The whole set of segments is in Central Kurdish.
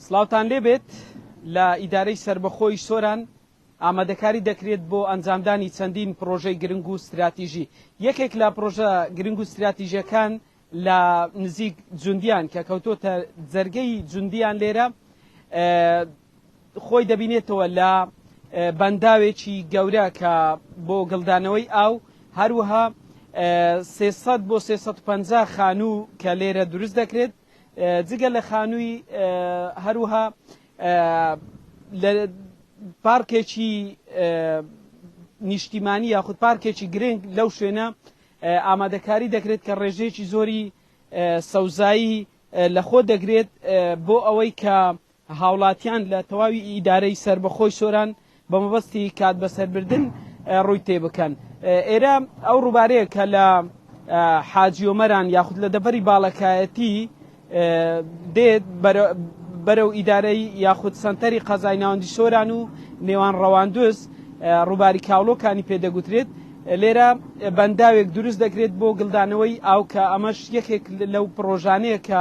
سلاوتان لێبێت لە ئیدارەی سربەخۆی سۆران ئامادەکاری دەکرێت بۆ ئەنجامدانی چەندین پرۆژەی گرنگ و استراتیژی یەکێک لە پرۆژە گرنگ و استراتیژەکان لە نزیک جوندیان کە کەوتۆتە جەرگەی جوندیان لێرە خۆی دەبینێتەوە لە بەنداوێکی گەورە کە بۆ گڵدانەوەی ئاو هەروەها 300 بۆ 350 خانوو کە لێرە دروست دەکرێت جگە لە خانووی هەروها لە پارکێکی نیشتیمانی یاخود پارکێکی گرنگ لەو شوێنە ئامادەکاری دەکرێت کە ڕێژەیەکی زۆری سەوزایی لە خۆ دەگرێت بۆ ئەوەی کە هاوڵاتیان لە تەواوی ئیدارەی سەربەخۆی سۆران بە مەبەستی کات بەسەربردن ڕووی تێبکەن. ئێرە ئەو ڕووبارەیە کە لە حاجی ئۆمەران یاخود لە دەڤەری باڵەکایەتی دێت بەرەو ئیدارەی یاخود سەنتەری قەزای ناوەندی سۆران و نێوان ڕەواندوز ڕووباری کاوڵۆکانی پێ دەگوترێت. لێرە بەنداوێک دروست دەکرێت بۆ گڵدانەوەی ئاو کە ئەمەش یەکێک لەو پڕۆژانەیە کە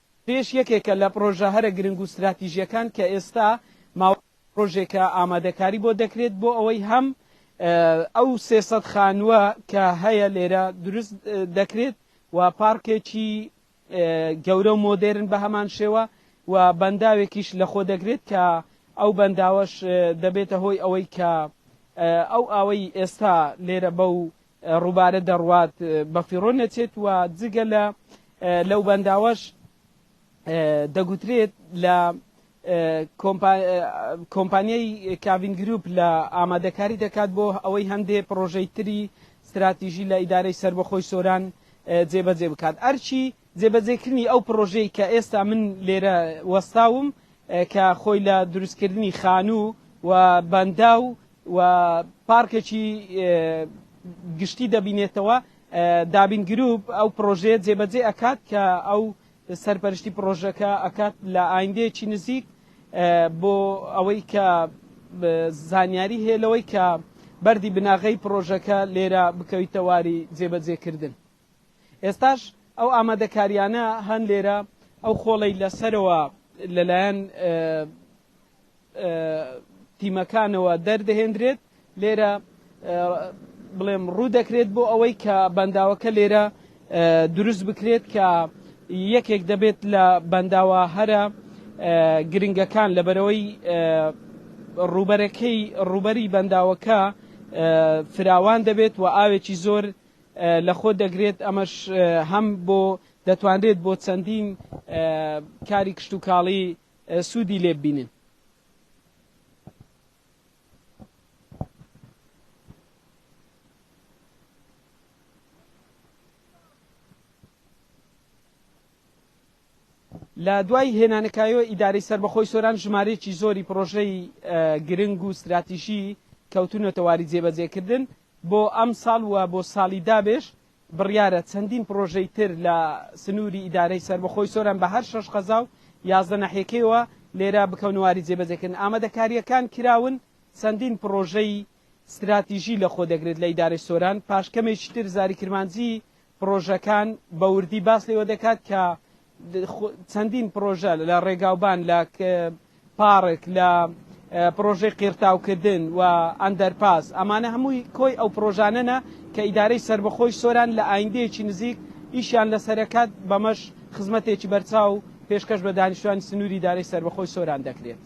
پێش یەکێکە لە پڕۆژە هەرە گرنگ و ستراتیژییەکان کە ئێستا ماوەی چەند ڕۆژێکە ئامادەکاری بۆ دەکرێت بۆ ئەوەی هەم ئەو سێ سەد خانووە کە هەیە لێرە دروست دەکرێت و پارکێکی گەورە و مۆدێرن بە هەمان شێوە و بەنداوێکیش لەخۆ دەگرێت کە ئەو بەنداوەش دەبێتە هۆی ئەوەی کە ئەو ئاوەی ئێستا لێرە بەو ڕووبارە دەڕوات بەفیڕۆ نەچێت و جگە لە لەو بەنداوەش دەگوترێت لە کۆمپانیای کاڤین گروپ لە ئامادەکاری دەکات بۆ ئەوەی هەندێ پرۆژەی تری ستراتیژی لە ئیدارەی سربەخۆی سۆران جێبەجێ بکات ئەرچی جێبەجێکردنی ئەو پڕۆژەی کە ئێستا من لێرە وەستاوم کە خۆی لە دروستکردنی خانوو و بەنداو و پارکێکی گشتی دەبینێتەوە، دابین گرووپ ئەو پڕۆژەیە جێبەجێ ئەکات کە ئەو سەرپەرشتی پڕۆژەکە ئەکات لە ئایندەیەکی نزیک بۆ ئەوەی کە زانیاری هەیە لەوەی کە بەردی بناغەی پڕۆژەکە لێرە بکەویتە واری جێبەجێکردن. ئێستاش ئەو ئامادەکارییانە هەن لێرە، ئەو خۆڵەی لە سەرەوە لەلایەن تیمەکانەوە دەردەهێندرێت، لێرە بڵێم ڕوو دەکرێت بۆ ئەوەی کە بەنداوەکە لێرە دروست بکرێت کە یەکێک دەبێت لە بەنداوە هەرە گرنگەکان لەبەرەوەی ڕوبەرەکەی ڕوبەری بەنداوەکە فراوان دەبێت و ئاوێکی زۆر لە خۆ دەگرێت، ئەمەش هەم بۆ دەتوانرێت بۆ چەندین کاری کشتوکاڵی سوودی لێ ببینن. لە دوای هێنانەکایەوە ئیدارەی سەربەخۆی سۆران ژمارەیەکی زۆری پڕۆژەی گرنگ و ستراتیژی کەوتونەتە واری جێبەجێکردن بۆ ئەمساڵ و بۆ ساڵی دابێش بڕیارە چەندین پڕۆژەی تر لە سنووری ئیدارەی سەربەخۆی سۆران بە هەر شەش قەزا و یازدە ناحیەکەیەوە لێرە بکەونەواری جێبەجێکردن ئامادەکارییەکان کراون چەندین پڕۆژەی ستراتیژی لەخۆدەگرێت لە ئیدارەی سۆران پاشکەمێکی تر زاری کرمانجی پڕۆژەکان بە وردی باس لەوە دەکات کە چەندین پڕۆژە لە ڕێگاوبان لە پارک لە پرۆژەی قیرتاوکردن و ئەندەرپاس ئەمانە هەمووی کۆی ئەو پرۆژانەنە کە ئیدارەی سربەخۆی سۆران لە ئایندەیەکی نزیک ئیشیان لە سەرەکات بەمەش خزمەتێکی بەرچاو پێشکەش بە دانیشتوانی سنووری دارەی سربەخۆی سۆران دەکرێت.